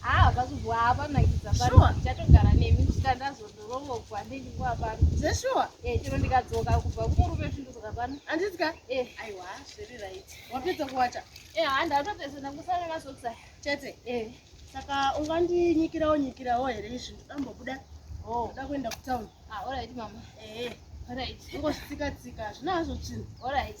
Haa ah, pakubwa hapa nakidza pano sure. Chatogara nemi kusvika ndazodorongogwa ndinguva pano zveshuwa eh, chero ndikadzoka kubva kumurume svindudzoka pano andidya eh. aiwa zviri right wapedza kuwacha eh, haa ndatopedza ndangosara masokisa chete eh. saka ungandinyikirawo nyikirawo here izvi ndodambobuda oh. ndoda kuenda kutown ah, orit mama eh. orit ingosvitsika tsika hazvina hazvo chinhu orit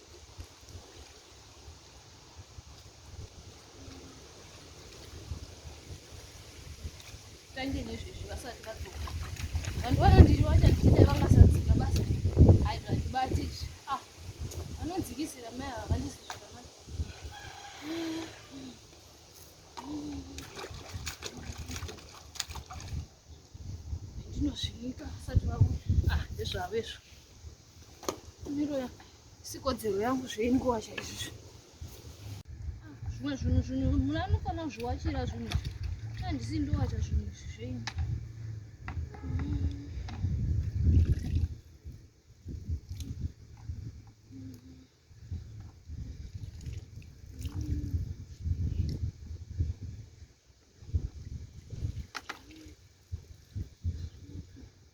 Tange nezvezvi vasati vadzoka. Vanhu vanondiri vachandida vangasadzika basa. Hai zvandibati izvi. Ah, vanodzikisira mai ava vandisi zvakanaka. Ndinozvinika vasati vauya. Ah, ndezvavo izvo. sikodzero yangu zveinguva chaizvizvo zvimwe zvinhu zvinhu muna anofanira kuzviwachira zvinhu handisi ndowacha zvinhu izvi zvenyu